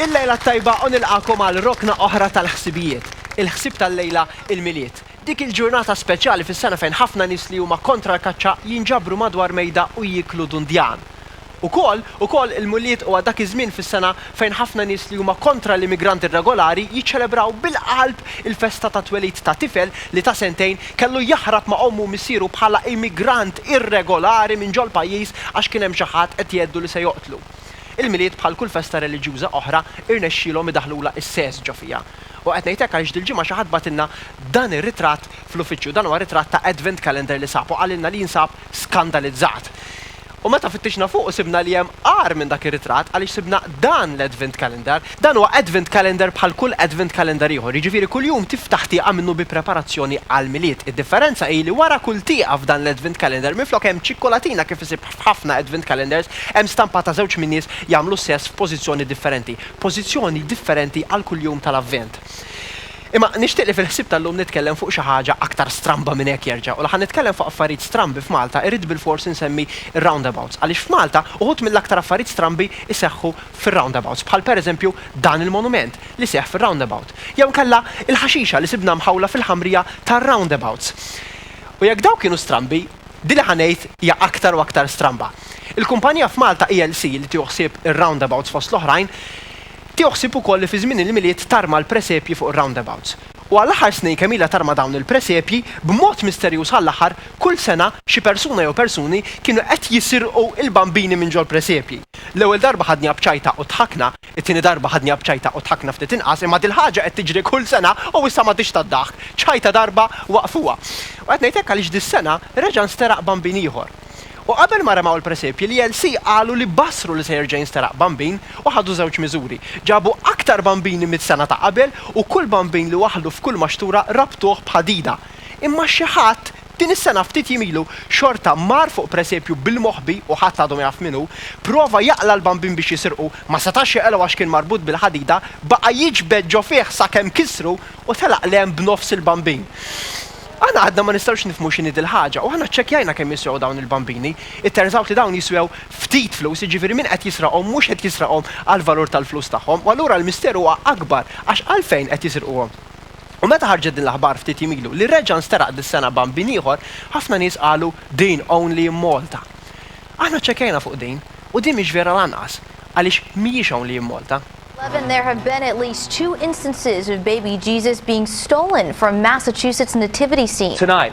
Il-lejla t-tajba u nilqagħkom għal rokna oħra tal-ħsibijiet. Il-ħsieb tal-lejla, il-Milied. Dik il-ġurnata speċjali fis-sena fejn ħafna nies li huma kontra l-kaċċa jinġabru madwar mejda u jieklu dundjan. Ukoll, ukoll il-Mulied huwa dak iż-żmien fis-sena fejn ħafna nies li huma kontra l-immigranti rregolari jiċċelebraw bil-qalb il-festa tat-twelid ta' tifel li ta' sentejn kellu jaħrab ma' ommu u missieru bħala immigrant irregolari minn ġol-pajjiż għax kien hemm xi ħadd qed jgħeddu li se joqtlu. Il-Milied bħal kull festa reliġjuża oħra irnexxielhom idaħħlulha s-sess ġo fiha. U qed ngħid hekk għaliex dil-ġimgħa xi ħadd bagħtilna dan ir-ritratt fl-uffiċċju. Dan huwa ritratt ta' Advent Calendar li sab u qalilna li jinsab skandalizzat. U meta fittixna fuqu sibna li hemm agħar minn dak ir-ritratt għaliex sibna dan l-Advent Calendar Dan huwa Advent Calendar bħal kull Advent Calendar ieħor, jiġifieri kull jum tiftaħ tieqa minnu bi preparazzjoni għall-Milied. Id-differenza hi li wara kull tieqa f'dan l-Advent Calendar minflok hemm ċikkolatina kif isib f'ħafna Advent Calendars, hemm stampa ta' żewġ min-nies jagħmlu s-sess f'pożizzjoni differenti. Pożizzjoni differenti għal kull jum tal-Avvent. Imma nixtieq li fil-ħsieb tal-lum nitkellem fuq xi ħaġa aktar stramba minn hekk jerġa'. U la ħa nitkellem fuq affarijiet strambi f'Malta irrid bilfors insemmi r-roundabouts għaliex f'Malta uħud mill-aktar affarijiet strambi jseħħu fir-roundabouts, bħal pereżempju dan il-monument li seħħ fir-roundabout, jew inkella l-ħaxixa li sibna mħawla fil-ħamrija tar-roundabouts. U jekk dawk kienu strambi, din li ħa ngħid hija aktar u aktar stramba. Il-kumpanija f'Malta ELC li tieħu ħsieb ir-roundabouts fost l-oħrajn, tieħu ħsieb ukoll li fi żmien il-Milied tarma l-presepji fuq ir-roundabouts. U għall-aħħar snin kemm ilha tarma dawn il-presepji, b'mod misterjuż għall-aħħar, kull sena, xi persuna jew persuni kienu qed jisirqu l-bambini minn ġol-presepji. L-ewwel darba ħadniha b'ċajta u dħakna, it-tieni darba ħadniha b'ċajta u dħakna ftit inqas, imma dil-ħaġa qed tiġri kull sena u issa m'għadhiex tad-daħk. Ċajta darba waqfuha. U qed ngħid hekk għaliex dis-sena reġa' nsteraq bambin ieħor. U qabel ma remgħu l-presepji, l-ELC qalu li bassru li se jerġa' jinsteraq bambin u ħadu żewġ miżuri. Ġabu aktar bambini mis-sena ta' qabel u kull bambin li waħlu f'kull maxtura rabtuh b'ħadida. Imma xi ħadd Din is-sena ftit jiem ilu xorta mar fuq presepju bil-moħbi u ħadd għadu ma jaf min hu, prova jaqla' l-bambin biex jisirqu, ma setax jaqilgħu għax kien marbut bil-ħadida, baqa' jiġbed ġo fih sakemm kissru u telaq 'l hemm b'nofs il-bambin. Aħna għadna ma nistgħux nifhmu x'inhi dil-ħaġa u aħna ċċekkjajna kemm jiswew dawn il-bambini, it turns out li dawn jiswew ftit flus, jiġifieri min qed jisraqhom mhux qed jisraqhom għall-valur tal-flus tagħhom u allura l-misteru huwa akbar għax għalfejn qed jisirquhom? U meta ħarġet din l-aħbar ftit jiem ilu li reġa' nsteraq dis-sena bambin ieħor, ħafna nies qalu din only in Malta. Aħna ċċekkjajna fuq din u din mhix vera lanqas għaliex mhijiex only in Malta. Eleven there have been at least two instances of baby Jesus being stolen from Massachusetts nativity scene. Tonight.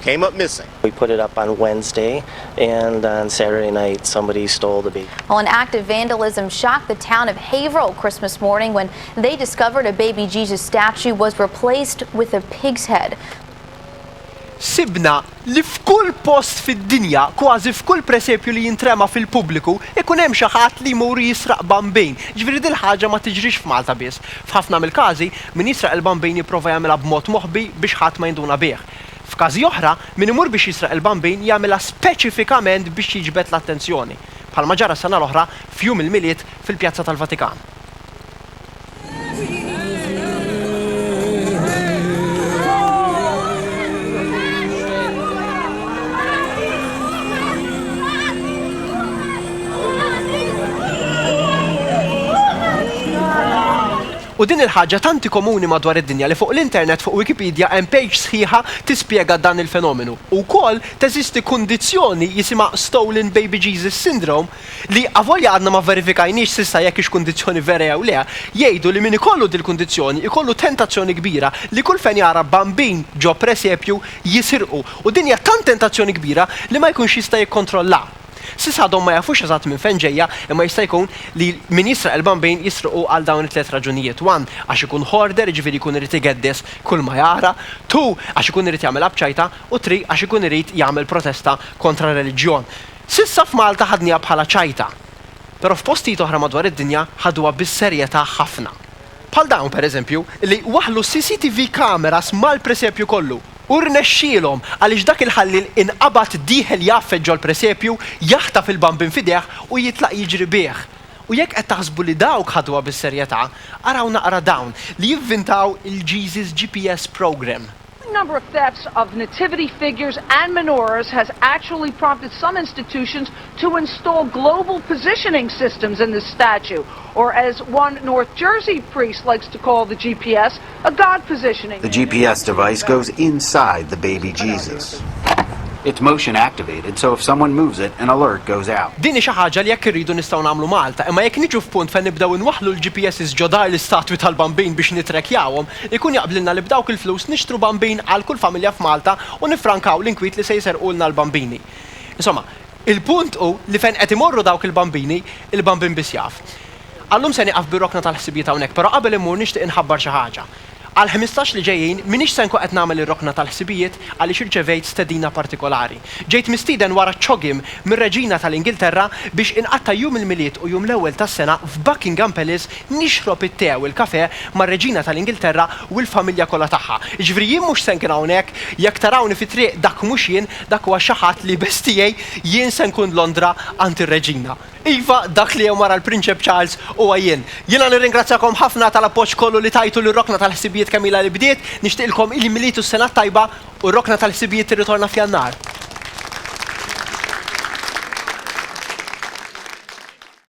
came up missing. We put it up on Wednesday and on Saturday night somebody stole the baby. An act of vandalism shocked the town of Haverhill Christmas morning when they discovered a baby Jesus statue was replaced with a pig's head. Sibna li f'kull post fid-dinja, kważi f'kull presepju li jintrema fil-pubbliku, ikun hemm xi ħadd li jmur jisraq bambejn. Jiġifieri dil-ħaġa ma tiġrix f'Malta biss. F'ħafna mill-każi, min jisraq il-bambejn jipprova jagħmilha b'mod moħbi biex ħadd ma jinduna bih. F'każi oħra, min imur biex jisraq il-Bambin jagħmilha speċifikament biex jiġbed l-attenzjoni, bħalma ġara s-sena l-oħra f'Jum il-Milied fil-Pjazza tal-Vatikan. U din il-ħaġa tanti komuni madwar id-dinja li fuq l-internet fuq Wikipedia hemm page sħiħa tispjega dan il-fenomenu. U wkoll teżisti kundizzjoni jisimha Stolen Baby Jesus Syndrome li, avolja għadna ma vverifikajniex s'issa jekk hix kundizzjoni vera jew le, jgħidu li min ikollu dil-kundizzjoni ikollu tentazzjoni kbira li kull fejn jara bambin ġo presepju jisirqu u din hija tant tentazzjoni kbira li ma jkunx jista' jikkontrollha. S'issa għadhom ma jafux eżatt minn fejn ġejja imma jista' jkun li min jisraq il-bambin jisriqu għal dawn it-tliet raġunijiet, one, għax ikun hoarder jiġifieri jkun irid igeddis kull ma jara, two, għax ikun irid jagħmilha b'ċajta u three, għax ikun irid jagħmel protesta kontra r-reliġjon. S'issa f'Malta ħadniha bħala ċajta. Però f'postijiet oħra madwar id-dinja ħaduha bis-serjetà ħafna. Bħal dawn, pereżempju, li waħħlu CCTV cameras mal-presepju kollu u rnexxielhom għaliex dak il-ħalliel inqabad dieħel jgħaffet ġol-presepju, jaħtaf il-bambin f'idejh u jitlaq jiġri bih. U jekk qed taħsbu li dawk ħaduha bis-serjetà, araw naqra dawn li jivvintaw il-Jesus GPS Programme. The number of thefts of nativity figures and menorahs has actually prompted some institutions to install global positioning systems in the statue, or as one North Jersey priest likes to call the GPS, a God positioning. The GPS device goes inside the baby Jesus. It's motion activated, so if someone moves it, an alert goes out. Din hi xi ħaġa li jekk irridu nistgħu nagħmlu Malta, imma jekk niġu f'punt fejn nibdew inwaħħlu l-GPSs ġo dar l-istatwi tal-Bambin biex nittrekkjawhom, Ikun jaqblilna li b'dawk il-flus nixtru bambin għal kull familja f'Malta u niffrankaw l-inkwiet li se jserqulna l-bambini. Insomma, il-punt hu li fejn qed imorru dawk il-bambini, il-bambin biss jaf. Għal-lum se nieqaf bir-rokna tal-ħsibijiet hawnhekk, però qabel immur nixtieq inħabbar xi ħaġa. Għall-ħmistax li ġejjin m'iniex se nkun qed nagħmel ir-rokna tal-ħsibijiet għaliex irċevejt stedina partikolari. Ġejt mistieden wara ċ-ċogiem mir-Reġina tal-Ingilterra biex inqatta' jum il-Milied u jum l-ewwel tas-sena f'Buckingham Palace Nixrob it-te u l-kafè mar-Reġina tal-Ingilterra u l-familja kollha tagħha. Jiġifieri jien mhux se nkun hawnhekk, jekk tarawni fit-triq dak mhux jien, dak huwa xi ħadd li b'hess tiegħi jien se nkun Londra għand ir-Reġina. Iva, dak li hemm wara l-Prinċep Charles huwa jien. Jiena nirringrazzjakom ħafna tal-appoġġ kollu li tajtu lir-Rokna tal-Ħsibijiet kemm ilha li bdiet, nixtieqilkom il-Milied u s-Sena t-Tajba u r-Rokna tal-Ħsibijiet tirritorna f'Jannar.